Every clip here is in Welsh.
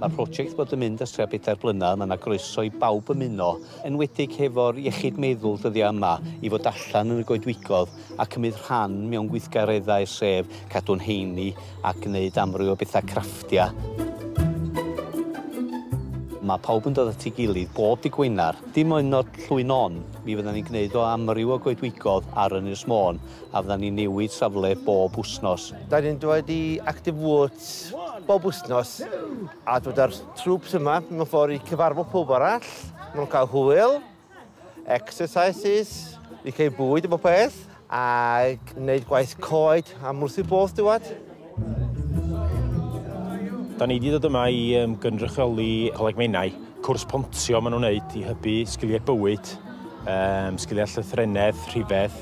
Mae'r prosiect bod yn mynd ers tua bedair blynedd, mae 'na groeso i bawb ymuno, enwedig hefo'r iechyd meddwl dyddiau yma, i fod allan yn y goedwigodd a cymryd rhan mewn gweithgareddau sef cadw'n heini a gwneud amryw o bethau crafftia. Mae pawb yn dod at ei gilydd bob dydd Gwener, dim ond llwy'n on, Mi fyddan ni'n gwneud o amryw o goedwigodd ar Ynys Môn a fyddan ni'n newid safle bob wsnos. Da ni'n dod i Active Woods bob wsnos a dod â'r trwps yma mewn ffordd i cyfarfod pob arall, maen nhw'n cael hwyl, exercises, ni'n cael bwyd a bob peth. A gwneud gwaith coed a mwrthu both dywed. Da ni wedi dod yma i um, gynrychioli Coleg Menai. Cwrs pontio maen nhw'n wneud i hybu sgiliau bywyd, um, sgiliau llythrenedd, rhifedd,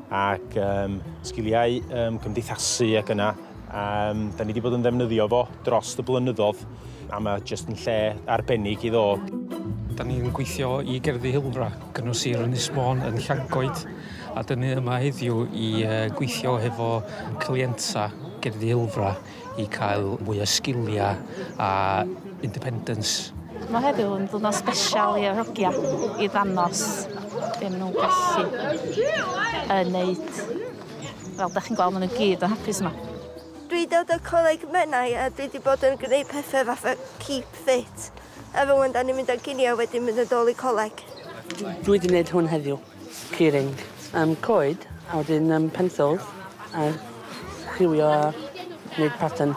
ac um, sgiliau um, cymdeithasu ac yna Um, da ni wedi bod yn ddefnyddio fo dros y blynyddoedd a mae jyst yn lle arbennig i ddod. Da ni'n gweithio i gerddi Hilfra, gynnwys sir Ynys Môn yn Llangoed, a dyn ni yma heddiw i gweithio hefo clienta gerddi Hilfra i cael mwy o sgiliau a independence. Mae heddiw yn ddwrnod special i Erogia i ddanos be maen nhw'n gallu yn neud. Fel dach chi'n gweld ma' nhw gyd yn hapus yma. Dwi dod o Coleg Menai a dwi di bod yn gneud pethe fatha keep fit a rŵan dan ni'n mynd ar gini a wedyn mynd yn dôl i coleg. Dwi di neud hwn heddiw. Keyring. Yym coed a wedyn yym pencils a lliwio a neud pattern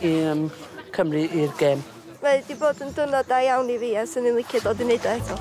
i yym cymru i'r gêm. Mae 'di bod yn dwrnod da iawn i fi a 'swn i'n licio dod i neud o eto.